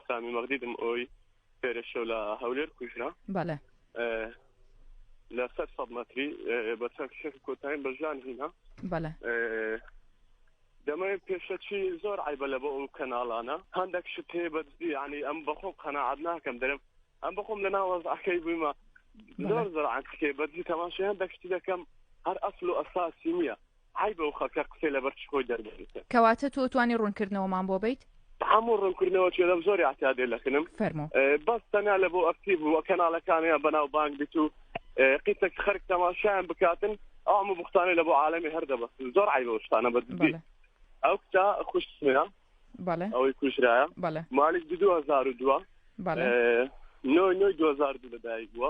سامی مەغدیدم ئەوی پێرەشە لە هەولێر کوژرا بەڵێ لە سەر سەد مەتری بە چەند شێخ کۆتایین بە ژان هینا بەڵێ دەمەوێت پێشە چی زۆر عیبە لە بۆ ئەو کەناڵانە هەندێک شت هەیە بە ینی ئەم بەخۆ قەنەعات ناکەم دەرم ئەم بەخۆم لە ناوەزعەکەی بوویمە زۆر زۆر عکێ بەجی تەماشی هەندێک شتی دەکەم هەر ئەسل و ئەساسی نییە. حیبە و خەکە قسەی لەبەر چ خۆی دەربێت کەواتە تۆ توانی ڕوونکردنەوەمان بۆ بیت؟ هەموو ڕوونکردنەوە چێ لەم زۆری عتادێ لەکنم فەرمو بەس تەنا لە بۆ ئەکتیب و کەناڵەکانیان بەناو بانگ بیت و قیتەک خەرک تەماشایان بکاتن ئەم و بختانە لە بۆ عاالمی هەردە بەس زۆر عیبە شتانە بە ئەو کتا خوشتە بەڵێ ئەوەی کوژرایە بەڵێ مالیک 2002 بەڵێ نۆی نۆی 2002 لەدایک بووە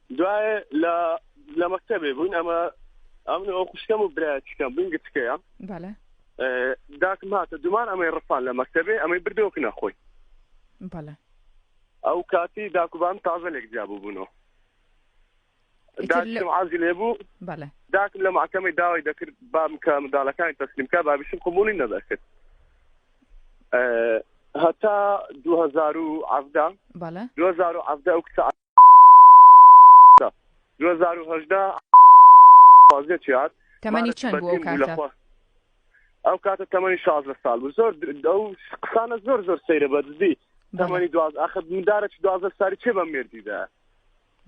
دوایێ لە لە مەکتەبێ بووین ئەمە ئەم ئەو خوشکەم و برایەتیکەم بووین گچکەیە بەڵێ ئێ، داکم هاتە دومان ئەمەی ڕفان لە مەکتەبێ ئەمەی بردەوە کنە خۆی بەڵێ ئەو کاتی داکوبان تازە لێک جیا بووبوونەوە ئیتر لە- داکم عازی لێ بوو بەڵێ داکم لە محکەمەی داوای دەکرد بام کە منداڵەکانی تەسلیم کا بابیشم قبولی نەدەکرد ئێ، هەتا 2017 بەڵێ 2017 ئەو کچە تا دوو هەزار و هەژدە پازدە چیار تەمەنی مارەت چەند بوو ئەو بەدین بوو لە کاتە؟ خوا ئەو کاتە تەمەنی شازدە ساڵ بوو زۆر در- ئەو قسانە زۆر زۆر سەیرە بە دزی بەڵێ. تەمەنی دواز ئاخە مندارە چ دوازدە ساری چێ بە مێردیدا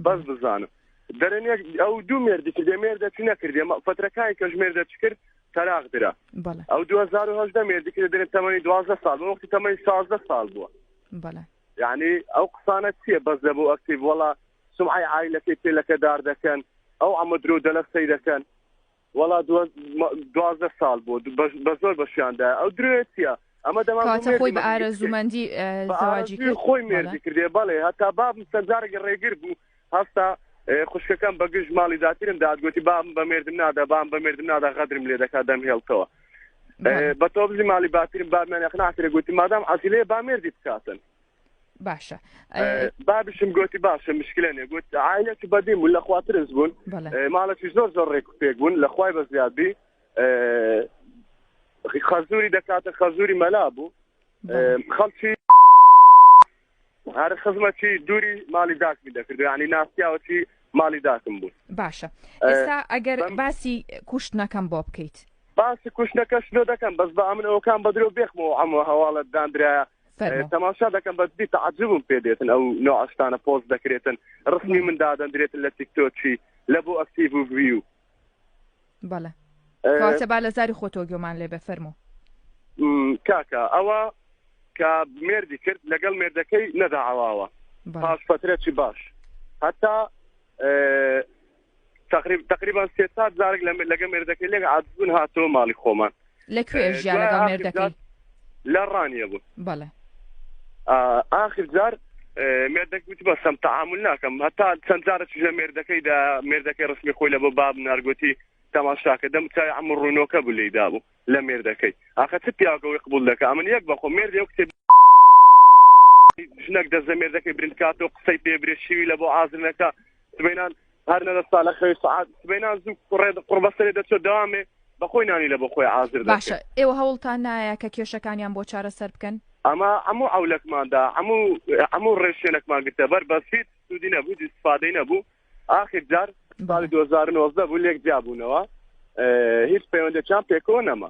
بەس بزانم دەرێن یەک ئەو دوو مێردی کردێ مێردە چی نەکردێ مە- فەترەکانی کەش مێردە چ کرد تەراق درا بەڵێ ئەو 2010 مێردی کرد دەرێن تەمەنی دوازدە ساڵ بوو وەختی تەمەنی شازدە ساڵ بووە بەڵێ یەعنی ئەو قسانە چیە بەس لە بۆ ئەکتیڤ وەڵا سومعەی عایلەکەی پێ لەکەدار دەکەن ئەو عەمە درۆو دەلە سەی دەکەن وەڵا دوازدە ساڵ بۆ بە زۆر بەشیاندا ئەو درێ چیە ئەمە دەماواتە خۆی بە ئارەزومەندی زەواجی خۆی مێردی کردێ بەڵێ هەتا بابم سەرجارێکی ڕێگر بوو هەستا خوشکەکەم بە گشت ماڵی داتیرم دادگوتی بام بە مردم نادا بام بە مردم نادا غەدرم لێ دەکات دەم هێڵتەوە بە تۆبزی ماڵی باتیرم بابمانە خناترە گوتی مادام عزیلەیە با مردی بکاتن باشە بابشم گوتی باشە مشکلە نێ گوت عیلەت بەدیم و لە خواترز بوون ماڵەتی زۆر زۆر ڕێک پێک بوون لە خوای بە زیادبی خەزوری دەکاتە خەزوری مەلا بوو خەڵکی هەر خزمەتی دووری ماڵی داکمی دەکرد ینی ناسیاوەتی ماڵی داکم بوو باشە ئێستا ئەگەر باسی کوشتنەکەم بۆ بکەیت باسی کوشتنەکەش لۆ دەکەم بەس بە ئەمن ئەوکان بە درۆ بێخمەوە ئەمە هەواڵت دانرا تەماشا دەکەم بەس بی تعجبم پێ دێتن ئەو نۆ ئەشتانە پۆست دەکرێتن ڕخنی من دادەندرێتن لە تیکتۆچی لە بۆ ئەکتیڤ و ڤیو بەڵێ کەواتە با لە زاری خۆتەوە گوێمان لێ بێ فەرموو کاکە ئەوە کە مێردی کرد لەگەڵ مێردەکەی نەدا ئاواوە بەڵێ پاش فترەی باش هەتا اه، تقریب تقریبا سێ سات زارێک لە لەگە مێردەکەی لێک عادبوون هاتەوە ماڵی خۆمان لە کوێ ژیا لەگەڵ مێردەکەی لە ڕانیە بوو بەڵێ ئاخر جار مێردەک وتی بەسم تعامل ناکەم هەتا چەند جارە چژە مێردەکەی دا مێردەکەی ڕسمی خۆی لە بۆ باب نارگوتی تەماشاکە دەم چای ئەم ڕوونۆکە بوو لی دابوو لە مێردەکەی ئاخە چ پیاگەوەی قبول دەکە ئەمن یەک بەخۆ مێردی و کتێب ژنەک دەزە مێردەکەی برندکات و قسەی پێ برێشیوی لە بۆ ئازرنەکە سبینان هەر لە دەستا لە خەوی سعات سبەینا زوو کوڕێ قڕبەسەرێ دەچێت دامێ بەخۆی نانی لە بەخۆی ئازر باشە ئێوە هەوڵتان نایە کە کێشەکانیان بۆ چارە سەر بکەن ئەمە هەموو ئەولەکماندا هەموو هەموو ڕێشێنەکمان گرتە بەر بەسیت سوودی نەبوو دیسپادەی نەبوو ئاخر جار ساڵی 2009 بوو لێک جیابوونەوە هیچ پەیوەندەکان پێکەوە نەما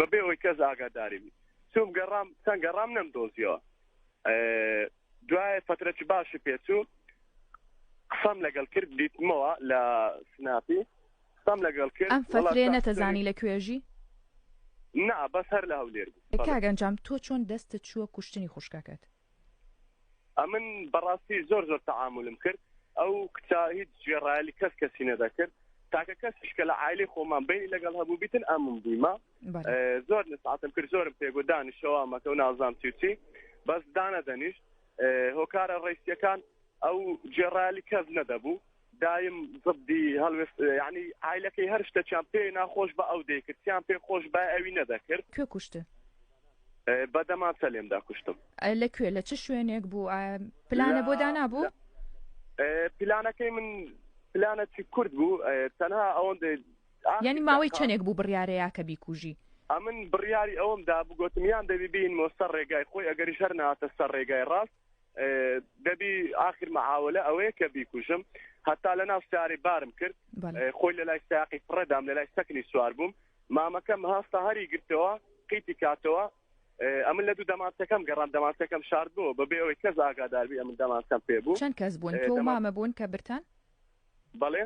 بەبێ ئەوەی کەس ئاگاداری بی چوم گەڕام چەند گەڕام نەم دۆزیەوە دوای فترەکی باشی پێچوو قسەم لەگەڵ کرد دیتمەوە لە سناپی قسەم لەگەڵ کرد ئەم فترێ نەتەزانی لە کوێژی نا بەس هەر لە هەولێر کاگەنجام تۆ چۆن دەستت چووە کوشتنی خوشکەکەت ئەمن بەڕاستی زۆر زۆر تەعاملم کرد ئەو کچا هیچ گوێڕایلی کەس کەسی نەدەکرد تاکە کەسیش کە لە عیلی خۆمان بینی لەگەڵ هەبوو بیتن ئەمم بوویمە زۆر نساتم کرد زۆرم پێگو دانیشەوە مەکە و نازام چیچی بەس دانە دەنیشت هۆکارە ڕیسیەکان ئەو گوێڕایلی کەس نەدەبوو دایم زبدی هەڵوێست یعنی عیلەکەی هەر شتەکیان پێ ناخۆش بە ئەو دەیکردیان پێ خۆش بە ئەوی نەدەکرد کوێ کوشت بەدەمان سەلێمدا کوشتم لە کوێ لە چ شوێنێک بوو پلانە بۆ دانابوو پلانەکەی من پلانەتی کورد بوو تەنها ئەوەندە ینی ماوەی چەندێک بوو بڕارەیە کە بیکوژی ئەمن بڕیاری ئەوم دا بگوتم یان دەبی بین مۆسەر ڕێگای خۆی ئەگەری شەر ناتە سەر ڕێگای ڕاست دەبی ئاخر مەعاولە ئەوەیە کە بیکوژم هەتا لە ناو سارەی بارم کرد خۆی لە لای ساقی پڕەدام لە لای سەکنی سوار بووم مامەکەم هەستە هەری گرتەوە قیتی کاتەوە ئەمن لە دوو دەماتەکەم گەڕام دەماتەکەم شارد بوو بەبێ ئەوەی کەس ئاگاداربی ئەمن دەماتەم پێ بوو چەند کەس بوون تۆ مامە بوون کە برتان بەڵێ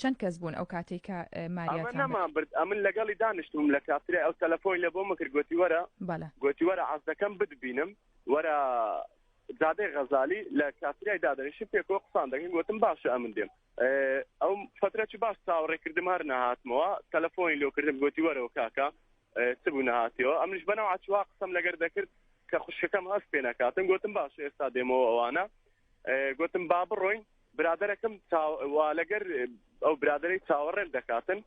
چەند کەس بوون ئەو کاتێک کە ماریامان برد ئەمن لەگەڵی دانیشتم لە کاتری ئەو تەلەفۆی لە بۆ مەکرد گوتی وەرە گوتی وەرە عزدەکەم بدبینم وەرە جادەی غەزالی لە کاتریای دادەنیشت پێکەوە قسان دەکەین گوتم باشە ئەمن دێم ئەو فترەی باش چاوەڕێکردم هەر نەهاتمەوە تەلەفۆنی لۆکردم گوتی وەرەوە کاکە چ بوو نهاتیەوە ئەمش بەنەوە چوا قسم لەگەر دەکرد کە خوشکەکەم هەست پێ نەکاتم گوتم باش ئێستا دێمەوە ئەوانە گوتم با بڕۆین برادەرەکەم وا لەگەر ئەو برادری چاوەڕێن دەکاتن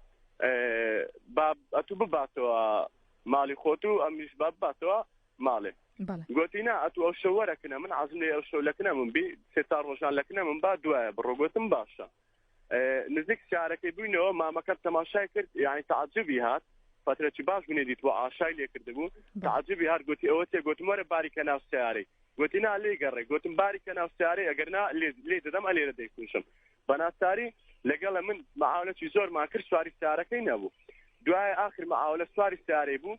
ئەتو بباتەوە ماڵی خۆت و ئەمیش باباتەوە ماڵێ گوتی نا ئەتو ئەو شەو وەرەکنە من عزم لێ ئەو شەو لەکنە من بی سێ چار ڕۆژان لەکنە من با دوایە بڕۆگوتم باشە نزیک شارەکەی بووینەوە مامەکەم تەماشای کرد یعنی تعجبی هات فترەی باش بنێ دیتوە ئاشای لێ کردبوو تعجبی هەر گوتی ئەوە تێ گوتم وەرە باری کە ناو سیارەی گوتی نا لێ گەڕێ گوتم باری کە ناو سیارەی ئەگەر نا لێ دەدەم ئەلێرە دەیکوشم بەناساری لەگەڵە من معاونەتی زۆر ماکرد سواری سارەکەی نەبوو دوای آخر معاولە سواری سارەی بوو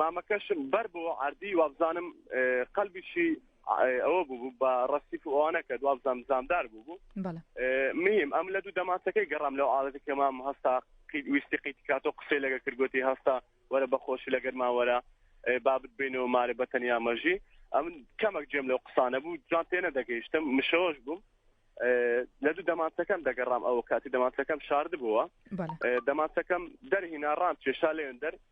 مامەکەشم بەر بۆ عردی وابزانم قەلبیشی ئەوە بوو بە ڕستی ئەوانە کە دوابزانام زامدار بوو بوو میم ئەم لە دوو دەماسەکەی گەڕام لەو ئاڵەتی کە مام هەستا ویستی قیتکات و قسەی لەگە کردگوتی هەستا وەرە بەخۆشی لەگەر ماوەرە بابت بینەوە مارە بە تەنیا مەژی ئەم کەمەک جێم لەو قسانە بوو جوان تێنە دەگەیشتم مشەوەش بووم لە دوو دەمانچەکەم دەگەڕام ئەو کاتی دەمانچەکەم شارد بووە دەمانچەکەم دەرهینا ڕام کێشا لێن دەر